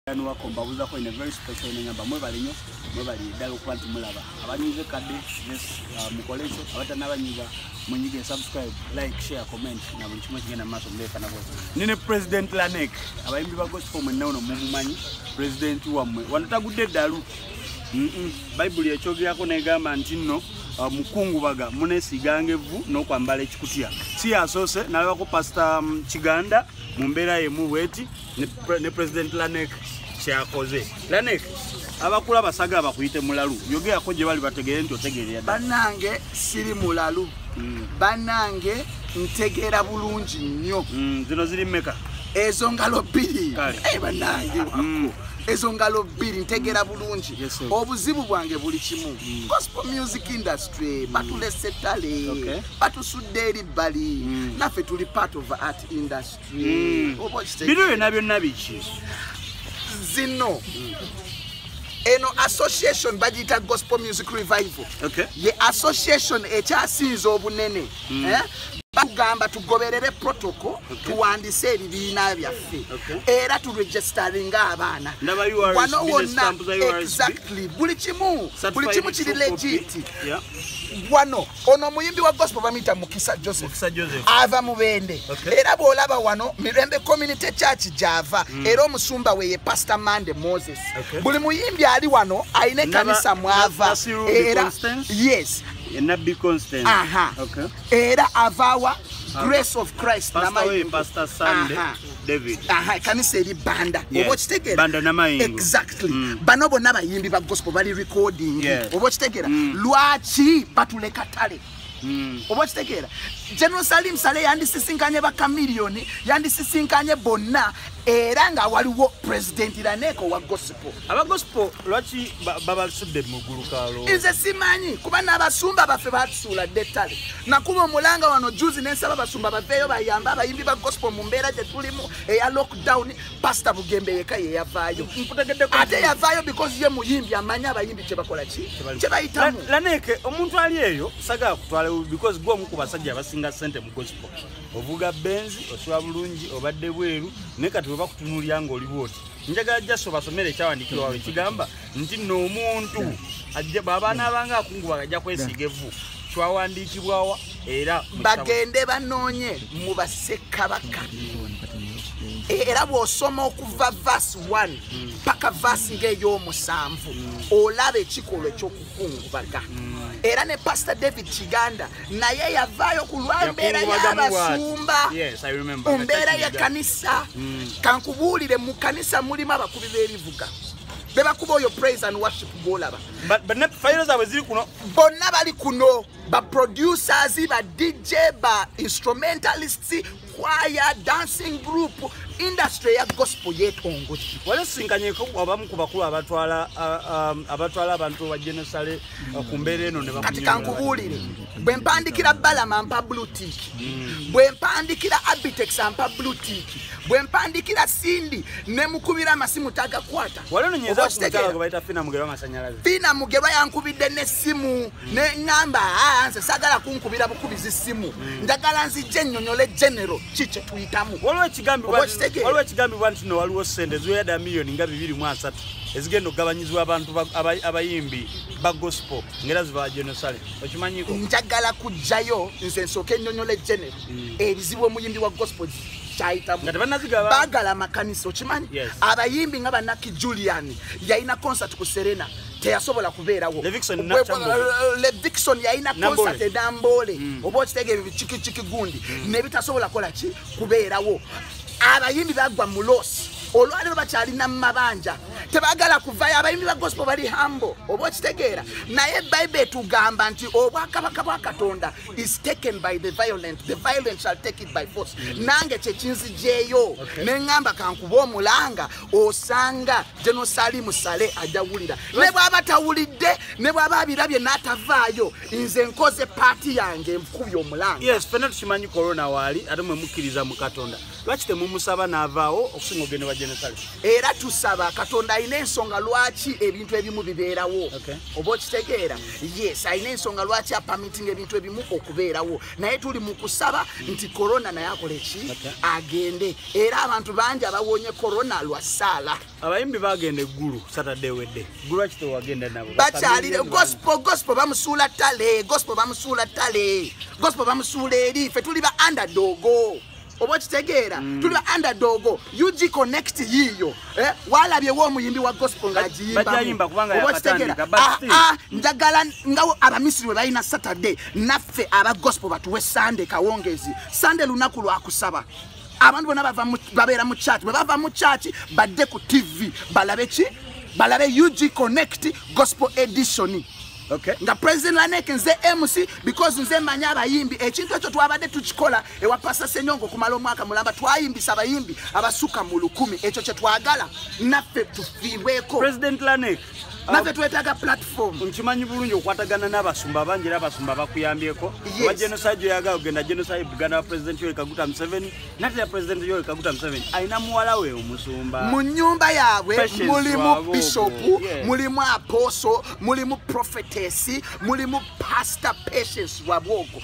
wako mbabuzako in a very special way ngamba mwebale nnyo mwebale ddala okuba nti mulaba abanyize kadde yes uh, mukole ekyo abatanabanyiza munyige subscribe like share comment na buli kimu ekigenda mu maaso muleekana bose nine president lanek abayimbi ba gospel mwenna uno mumumanyi president wammwe wano tagudde eddalu bayibuli ekyogerako negamba nti nno uh, mukungubaga munesiganga evvu n'okwambala ekikutya si yasoose nalabako pasita um, kiganda mu mbeera yemu bweti ne president lanek kyakoze lanek abakula basaga bakuyite mulalu yogeako gye bali bategeere nti otegeerera banange siri mulalu mm. banange ntegeera bulungi nnyo mm, zino ziri meka ezo ngalo bbiri eh, banange mm. ezo ngalo bbiri ntegera bulungi obuzibu bwange buli kimu mm. gospel music industry mm. batulese tale batusudde eri bbali mm. naffe tuli part of art industry mm. bino byonna byonna biki zino eno association bagiyita gospel music revival okay. ye association ekyasinza obunene mm. eh? tugamba tugoberere protocol tuwandise ebibiina byaffe era turegisteringa abaana wano wonna exactly buli kimu buli kimu kiri legit wano ono omuyimbi wa gospel bamuyita mukisa joseph ava mubende era bwolaba wano mirembe community church gyava mm. era omusumba we ye pastor mande moses buli muyimbi ali wano alina ekanisa mwava era yes enabbi constant era avaawa grace of christ namayimbi David. Aha, ekanisa eri banda yes. oba okitegera exactly mm. bano bonna bayimbi ba gospel bali recording yes. oba okitegera mm. lwaki batuleka tale mm. oba okitegeera general salim sale yandisisinkanye bakamiliyoni yandisisinkanye bonna era nga waliwo president raneeko wa gosipo aba gosipo lwaki babasudde mugulukalo nze simanyi kuba n'abasumba baffe batusuula dde ettale nakuba omulanga wano juzi nensaba basumba baveeyo bayambe abayimbi ba gospel mu mbeera gye tulimu eya lockdown pasita bugembe yeka yeyavaayo ate yavaayo because ye muyimbi amanyi abayimbi kyebakola ki kyebayitamu laneke omuntu ali eyo sagala kutwala because gwe omu ku basajja abasinga sente mu gospel ovuga benzi osula bulungi obadde bweru naye kati webakutunuulya ngaoli bwoti njagala just obasomere ekyawandiikirwa wabwe kigamba nti nno omuntu bw'aba anaabanga akungubaga ajja kwesiiga evvu kyawandiikibwawa era bagende banoonye mu basekabaka era bw'osoma okuva vasi 1 paka vasi ng'ey'omusanvu olaba ekikolwa ekyoku yakungubaga mm. era ne pastor david kiganda naye yavaayo ku lwa mbeera y'abasumba ku mbeera y'ekkanisa mm. kankubuulire mu kkanisa mulimu abakubi b'ebivuga bebakuba oyo praise and worship gwolaba fayiro zaabwe ziri kuno bonna bali kuno ba producers ba dj ba instrumentalists kwaya dancing group industry ya gospel yetongoki wale singanyeko abamu ku bakulu abatwala um, abatwala abantu ba genosale uh, ku mbeera eno kati kankubuulire bwe mpandikira balama mpa blutik mm. bwe mpandikira abitex ampa blutik bwe mpandikira sindi ne mukubira amasimu tagakwata fina mugerwa yankubidde n'essimu neŋamba ah, nze sagala kunkubira bukubizi simu hmm. njagala nzijja ennyonyole genero ki kyetuyitamu waliwo ekigambibwa nti no waliwo sente ziweyada miliyoni nga bibiri mu asatu ezigenda okugabanyizibwa abantu abayimbi ba gospel ngaera ziba genosale okimanyiko njagala kujjayo nze nsooka ennyonyole genero hmm. ebizibu omuyimbi wa gospel kyayitamubaagala amakanisa okimanyi abayimbi nga banaki julian yalina concert ku serena teyasobola kubeerawo levixon yalina concert edamboole mm. oba okitega ebyo bikikikiki gundi mm. nebitasobola kola ki kubeerawo abayimbi bagwa mu losi olwaliro bakyalina mu mabanja tebagala kuvayo abayimbi ba gospel bali hambo oba okitegeera naye bible etugamba nti obwakabaka bwa katonda is taken by the violent the violent shall take it by force mm. nange kyekinzijeeyo neŋŋamba kankuba omulanga osanga General Salim Sale ajawulira ne bwaba tawulidde ne bwaba abirabye n'atavaayo nze nkoze paati yange nkubye omulanga yes fena tukimanyi corona waali ate mwe mukkiriza mu katonda lwaki temumusaba n'avaawo okusinga ogende wa General Sale era tusaba katonda alina ensonga lwaki ebintu ebimu bibeerawo oba okitegeera yes alina ensonga lwaki apamitinga ebintu ebimu okubeerawo naye tuli mu kusaba nti korona naye akola eki agende era abantu bangi abawonye korona lwa saala abayimbi bagenda eggulu saturday wedde gulu akite wagenda nabo bakyalire gospo gospo bamusuula tale gospo bamusuula tale gospo bamusuula eri fe tuli ba andadogo oba okitegeera mm. tuli underdogo ug connect yiiyo eh? walabyewo omuyimbi wa gospel ng'agiyimbamuoba okitegeera ah, ah, njagala nga abamisiri we balina saturday naffe aba gospel batuwe sande kawongezi sande lunaku lwakusaba abantu bona babeera mu church bwe bava mu church badde ku tv balabe ki balabe ug connect gospel edition Okay. nga president lanek nze mc because nze manya abayimbi ekintu ekyo twabadde tukikola ewa pasa senyongo okumala omwaka mulamba twayimbisa abayimbi abasuka mu lukumi ekyo kyetwagala naffe tufiibweko president lanek naffe um, twetaaga platform nkimanyi bulungi okwatagana n'abasumba bangi era abasumba bakuyambyeko oba genocide gyoyagala ogenda genocide buganda wa president yoekaguta museveni natera president yoweri kaguta museveni alina muwala we omusumba mu nyumba yaabwe mulimu bishopu mulimu aposo mulimu profetesi mulimu pastor patience wabwogo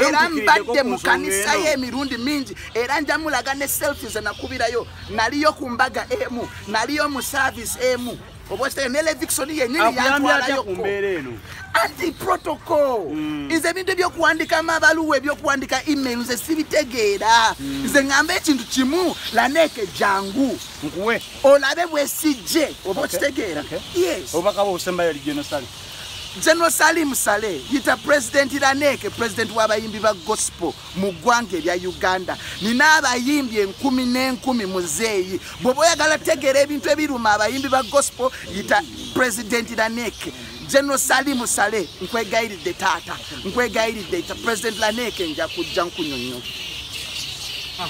era mbadde mu kanisa ye emirundi mingi era njamulaga ne selfi zenakubirayo naliyo ku mbaga emu naliyo mu service emu obwesitayo ne levixoni yenyini yantwalayo ku mbeera eno anti protocol mm. nze ebintu ebyokuwandika amabaluwa ebyokuwandika email nze sibitegeera mm. nze ngamba ekintu kimu laneeke jangu nkuwe olabe bwesijje oba okitegeera yes obubaka bwo obusembayo ali genosale general salim saleh yita president laneeke president w'abayimbi ba gospel mu ggwanga erya uganda nina abayimbi enkumi n'enkumi muzeeyi bweoba oyagala tegeera ebintu ebiruma abayimbi ba gospel yita president lanek general salimu sale nkwegayiridde taata nkwegayiridde yita president lanek nja kujja nkunyonyo ah,